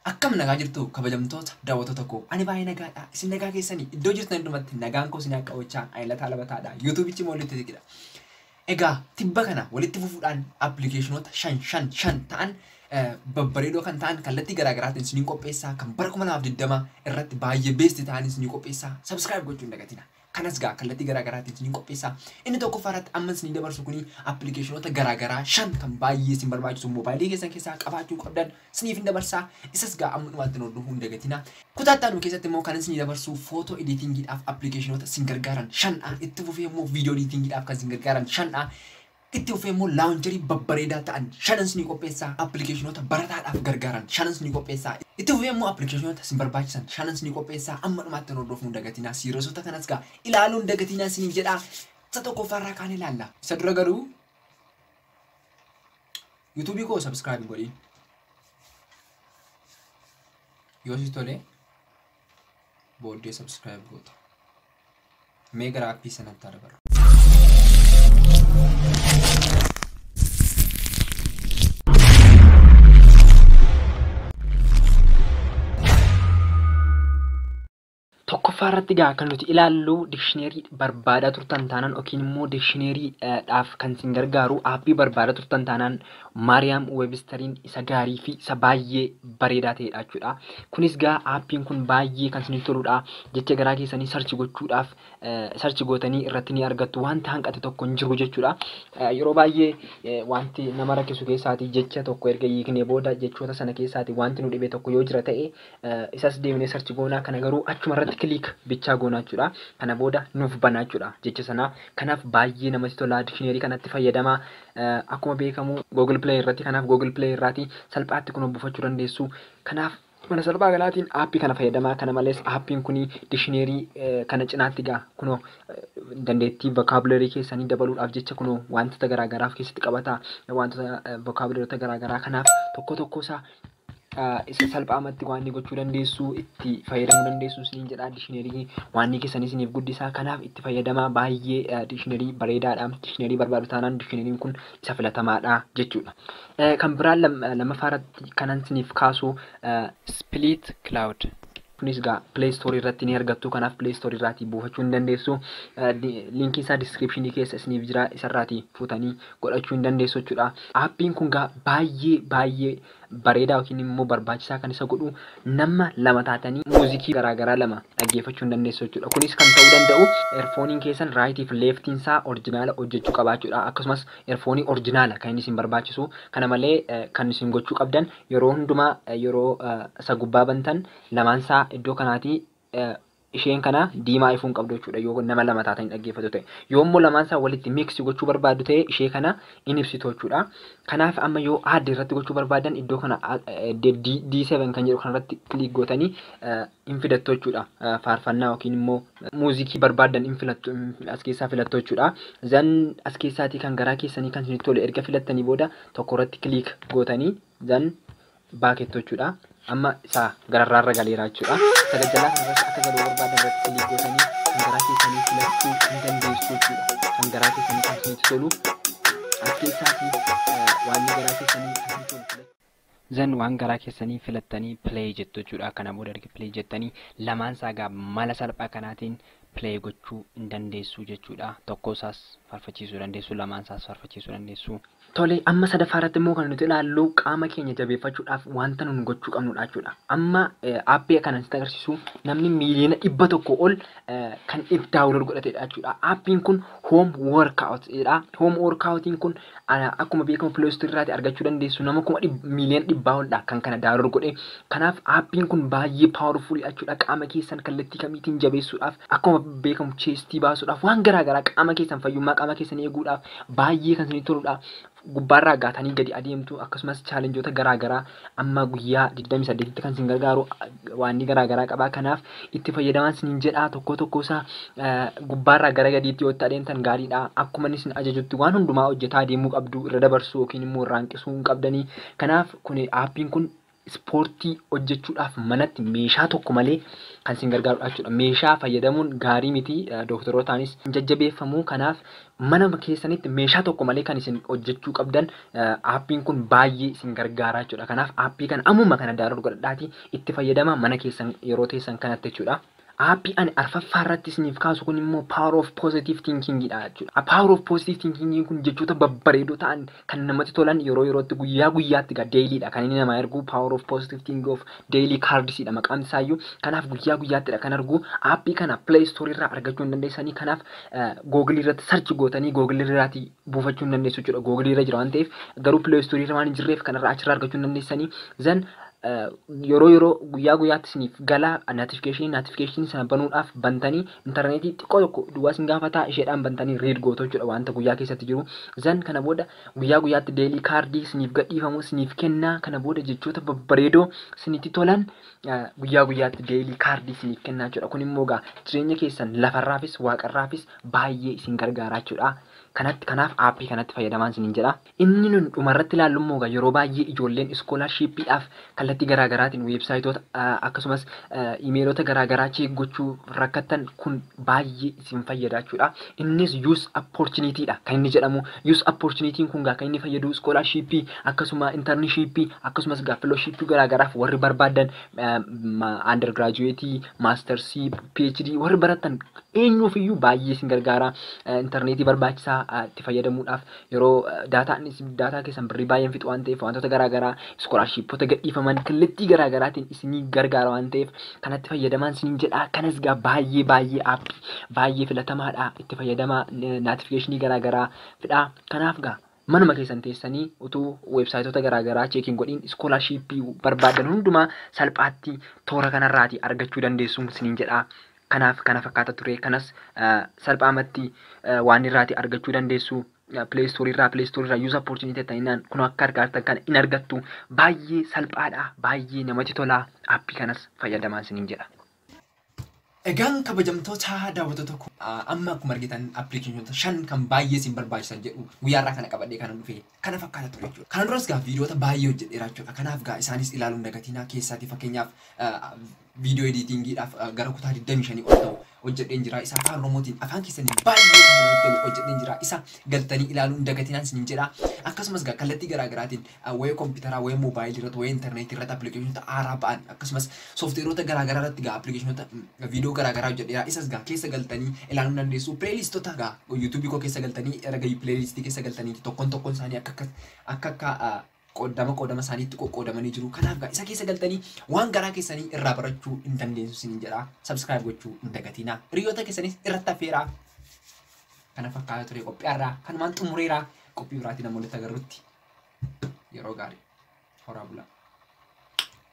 Akkam nagaa jirtuu kabajamtoota daawwattoota koo ani baay'ee nagaadha isin nagaa keessanii iddoo jirtan hundumatti nagaan koo isin akka oolchaa ani lataa labataadha yuutuubichi immoo littisiidha. Egaa tibba kana walitti fufuudhaan appilikeeshinoota shan shan shan ta'an babbareedoo kan ta'an kallattii garaa garaatiin isiniin qopheessaa kan bara kuma lamaaf digdama irratti baay'ee beesti ta'an isinii qopheessaa sabiskiraayib gochuu hin dagatina. Kanas gaa kallattii garaa garaatiin isiniin qopheessa. Inni tokkoffaa irratti amma isinii dabarsu kuni appilikeeshinoota garaa garaa shan kan baay'ee isin barbaachisu moobaayilii keessan keessaa qabaachuu qabdan isiniif hin dabarsa. Isas gaa amma dhumaatti nu hordofuu hin dagatina. Kutaa itti aanu keessatti immoo kan isinii dabarsu footoo ediitingiidhaaf appilikeeshinoota isin gargaaran shan'aa. Itti fufee immoo viidiyoo ediitingiidhaaf kan isin gargaaran shan'aa. Itti fufee immoo laawuncherii babbareedaa ta'an shanans ni qopheessaa, appilikeeshinoota barataadhaaf gargaaran shanans ni qopheessaa. Itti fufee immoo appilikeeshinoota isin barbaachisan shanans ni qopheessaa. Amma dhumaatti nu hordofuu hin dagatinaa. Siiriyesoota kanas egaa ilaaluu hin dagatinaa isiniin jedha. Isa tokkoffaa irraa kaanee ilaalla. Isa dura garuu YouTube koo subscribe hin godhin. Yoo si tole booddee subscribe goota. Mee gara appii sanatti haa dabarru. Tokkoffaa irratti gaa kan nuti ilaallu dikshineerii barbaadaa turtan taanaan yookiin immoo dikshineerii dhaaf kan isin gargaaru aappii barbaadaa turtan taanaan Maariyaam Weebistariin isa gaarii fi isa baay'ee bareedaa ta'edha jechuudha. Kunis gaa aappiin kun baay'ee kan isinitti toludha. Jecha garaa keessanii sarchi gochuudhaaf sarchi gootanii irratti ni argattu. Wanti hanqate tokko hin jiru jechuudha. Yeroo baay'ee wanti nama rakkisu keessaati jecha tokko erga hiiknee booda jechoota sana keessaati wanti nu dhibe tokko yoo jira ta'e isas deemnee sarchi goonaa kana garuu achuma irratti kiliik bichaa goonaa jechuudha. Kana booda nuuf banaa jechuudha jecha sanaa. Kanaaf baay'ee namatti tolaa dikshineerii kanatti fayyadamaa. Akkuma beekamu Google Play irratti kanaaf Google Play irraati salphaatti kunoo buufachuu dandeessu. Kanaaf mala salphaa kanaatiin aappii kana fayyadamaa. Kana malees aappiin kun dishineerii kana cinaatti egaa kunoo dandeettii vocabulary keessanii dabaluudhaaf jecha kunoo wantoota garaagaraa of keessatti qabata. Wantoota vocabularyota garaagaraa kanaaf tokko tokko isaa isa salphaamatti waanni gochuu dandeessu itti fayyadamuu dandeessu isiniin jedha dishinarii waanni keessan isiniif guddisaa kanaaf itti fayyadamaa baay'ee dishinarii bareedaadha dishinarii barbaadu taanaan dishinariin kun isa filatamaadha jechuudha. Kan biraan lammaffaa irratti kanan isiniif kaasu split cloud Kunis egaa Play Store irratti ni argattu. Kanaaf Play Store irraatii buufachuu ni dandeessu. Linkiin isaa description keessa isiniif jira. Isarraatii fuutanii godhachuu ni dandeessu jechuudha. Aappiin kun egaa baay'ee baay'ee bareedaa yookiin immoo barbaachisaa kan isa godhu nama lama taatanii muuzikii garaagaraa lama dhaggeeffachuu ni dandeessu jechuudha. Kunis kan ta'uu danda'u erfooniin keessan raayitii fi leeftiin isaa orjinaala hojjechuu qabaachuudha. Akkasumas erfoonii orjinaala kan inni isin barbaachisu. Kana malee kan isin gochuu qabdan Yeroo hundumaa yeroo isa gubbaa bantan lamaan isaa iddoo kanaatii isheen kana diimaa ifuu hin qabdu jechuudha yoo nama lama taatanii dhaggeeffatu ta'e. Yoo immoo lamaan isaa walitti miksi gochuu barbaaddu ta'e ishee kana in ibsitu jechuudha. Kanaaf amma yoo aadde irratti gochuu barbaadan iddoo kana D7 kan jedhu kanarratti kiliik gootanii hin fidattu jechuudha. Faarfannaa yookiin immoo muuziikii barbaaddan hin filattu as keessaa filattu jechuudha. Zan as keessaatii kan garaa keessanii kan isinitti tole erga filattanii booda tokko irratti kiliik gootanii zan baakettu jechuudha. Amma isaa gararraa irra galeera jechuudha. Sagal jalaa kan irratti akka galuu barbaaddan irratti kiliik gootanii kan garaa keessanii filachuu hin dandeessu jechuudha. Kan garaa keessanii kan isinitti tolu as keessaatii waan garaa keessanii kan isinitti tolu. Zan waan garaa keessanii filattanii play jettu jechuudha. Kana booda erga play jettanii lamaan isaa egaa mala salphaa kanaatiin play gochuu hin dandeessu jechuudha. Tokkoo isaas farfachiisuu dandeessu, lamaan isaas farfachiisuu dandeessu. Tole amma sadaffaa irratti immoo kan nuti ilaallu qaama keenya jabeeffachuudhaaf wanta nun gochuu qabnudha jechuudha. Amma aappii kanan sitti agarsiisu namni miiliyoona dhibba tokko ol kan if daawunlood godhatedha jechuudha. Appiin kun Home Workout jedha. Home Workoutiin kun akkuma beekamu Play Store irraati argachuu dandeessu. Nama kuma miiliyoona dhibbaa oldha kan kana daawunlood godhe. Kanaaf appiin kun baay'ee powerful jechuudha. Qaama keessan kallattii kamiitiin jabeessuudhaaf akkuma beekamu cheestii baasuudhaaf waan garaa garaa qaama keessan fayyummaa qaama keessan eeguudhaaf baay'ee kan isinii toludha. gubbaarra aggaatanii gadi adeemtu akkasumas chaalenjoota garaa garaa amma guyyaa 28tti kan sin gargaaru waanni garaa garaa qabaa kanaaf itti fayyadamaan sinin jedhaa tokkoo tokkoo isaa gubbaarraa gara gadiitti yoo itti adeemtan gaariidha akkuma inni sin ajajutti waan hundumaa hojjetaa adeemuu qabdu irra dabarsuu yookiin immoo irraa hanqisuu hin qabdanii kanaaf kun aappiin kun Ispoortii hojjechuudhaaf manatti meeshaa tokko malee kan isin gargaaru dha jechuudha. Meeshaa fayyadamuun gaarii miti, dooktarootaanis hin jajjabeeffamu. Kanaaf mana keessanitti meeshaa tokko malee kan isin hojjechuu qabdan aappiin kun baay'ee isin gargaara jechuudha. Kanaaf aappii kana ammuma kana daawunlood godhadhaatii itti fayyadamaa mana keessan yeroo teessan kanatti jechuudha. Aappii ani arfaffaa irratti isiniif kaasu kun immoo Power of Positive Thinking dha jechuudha. Power of Positive Thinking kun jechoota babbareedoo ta'an kan namatti tolan yeroo yerootti guyyaa guyyaatti egaa daily dha kan inni namaa ergu Power of Positive Thinking of Daily Cards dha maqaan isaa iyyuu kanaaf guyyaa guyyaatti dha kan argu aappii kana Play Store irraa argachuu hin dandeessanii kanaaf Google irratti search gootanii Google irraati buufachuu hin dandeessu jechuudha Google irra jira waan ta'eef garuu Play Store irra waan hin jirreef kanarraa achirraa argachuu hin dandeessanii zan yeroo yeroo guyyaa guyyaatti isiniif gala notification notification sana banuudhaaf bantanii intarneetii xiqqoo tokko duwwaa isin gaafataa isheedhaan bantanii read gootu jechuudha wanta guyyaa keessatti jiru zan kana booda guyyaa guyyaatti deelii kaardii isiniif gadhiifamu isiniif kennaa kana booda jechoota babbareedoo isinitti tolan guyyaa guyyaatti deelii kaardii isiniif kennaa jechuudha kun immoo gaa jireenya keessan lafarraafis waaqarraafis baay'ee isin gargaaraa jechuudha kanatti kanaaf aappii kanatti fayyadamaan isiniin jedha. Inni nuti dhumarratti ilaallu immoo egaa yeroo baay'ee ijoolleen iskoolaarshiippiidhaaf kallattii garaa garaatiin weebsaayitoota akkasumas imeelota garaa garaa cheek gochuu rakkattan kun baay'ee isin fayyada jechuudha. Innis use opportunity dha kan inni jedhamu. Use opportunity kun egaa kan inni fayyadu iskoolaarshiippii akkasuma intarnishiippii akkasumas egaa filooshiippii garaa garaaf warri barbaadan under graduate, masters, PhD warri baratan eenyuuf iyyuu baay'ee isin gargaara. Intarneetii barbaachisaa itti fayyadamuudhaaf yeroo daataa inni isin daataa keessan birrii baay'een fixu waan ta'eef wantoota garaa garaa iskoolaarshiippota gadhiifaman kallattii garaa garaatiin isinii gargaara waan ta'eef kanatti fayyadamaan isiniin jedha kanas gaa baay'ee baay'ee aappii baay'ee filatamaadha itti fayyadamaa naatifikeeshinii garaa garaa fidha kanaaf gaa manuma keessan teessanii utuu weebsaayitoota garaa garaa cheekiin godhiin iskoolaarshiippii barbaadan hundumaa salphaatti toora kanarraati argachuu dandeessuun isiniin jedha Kanaaf kana fakkaata ture. Kanas salphaamatti waan irraati argachuu dandeessu. Play Store irraa Play Store irraa Use Opportunity jettaniinaan kun akka argaa jirtan kana in argattu. Baay'ee salphaadha. Baay'ee namatti tola. Appii kanas fayyadamaan isiniin jedha. Egaan kabajamtoota daawwattoota koo amma akkuma argitan appilikeeshinoota shan kan baay'ee isin barbaachisan jedhu guyyaarraa kana qabadhee kanan dhufe kana fakkaata ture jechuudha. Kana duras gaa viidiyoota baay'ee hojjedheera jechuudha. Kanaaf gaa isaanis ilaaluu hin dagatinaa keessaati fakkeenyaaf Viidiyoo ediitiingiidhaaf gara kutaa 25 ol ta'u hojjedheen jira. Isa afaan Oromootiin afaan keessaniin baay'ee kan namatti tolu hojjedheen jira. Isa galtanii ilaaluu hin dagatinaan isiniin jedha. Akkasumas egaa kallattii garaa garaatiin ah, wayee kompiitaraa, wayee moobaayilii irratti, wayee intarneetii irratti appilikeeshinoota haaraa ba'an akkasumas sooftiweeroota garaa garaa irratti egaa appilikeeshinoota mm, viidiyoo garaa garaa hojjedheera. Isas egaa keessa galtanii ilaaluu ni dandeessu. Pileeliistota egaa yuutuubii koo keessa galtanii erga pileeliistii keessa galtaniiti tokkoon tokkoon isaanii akka akka akka akka ah, qoddama qoodama isaaniitti qoqqoodamanii jiru. Kanaaf gaa isa keessa galtanii waan garaa keessanii irraa barachuu hin dandeessu isiniin jedha. Subscribe gochuu hin dagatiina. Hiriyoota keessanis irratti affeeraa. Kana fakkaata ture qophii irraa kanumaan xumureera. Qophii biraatiin amma walitti agarrutti yeroo gaarii horaa bulaa.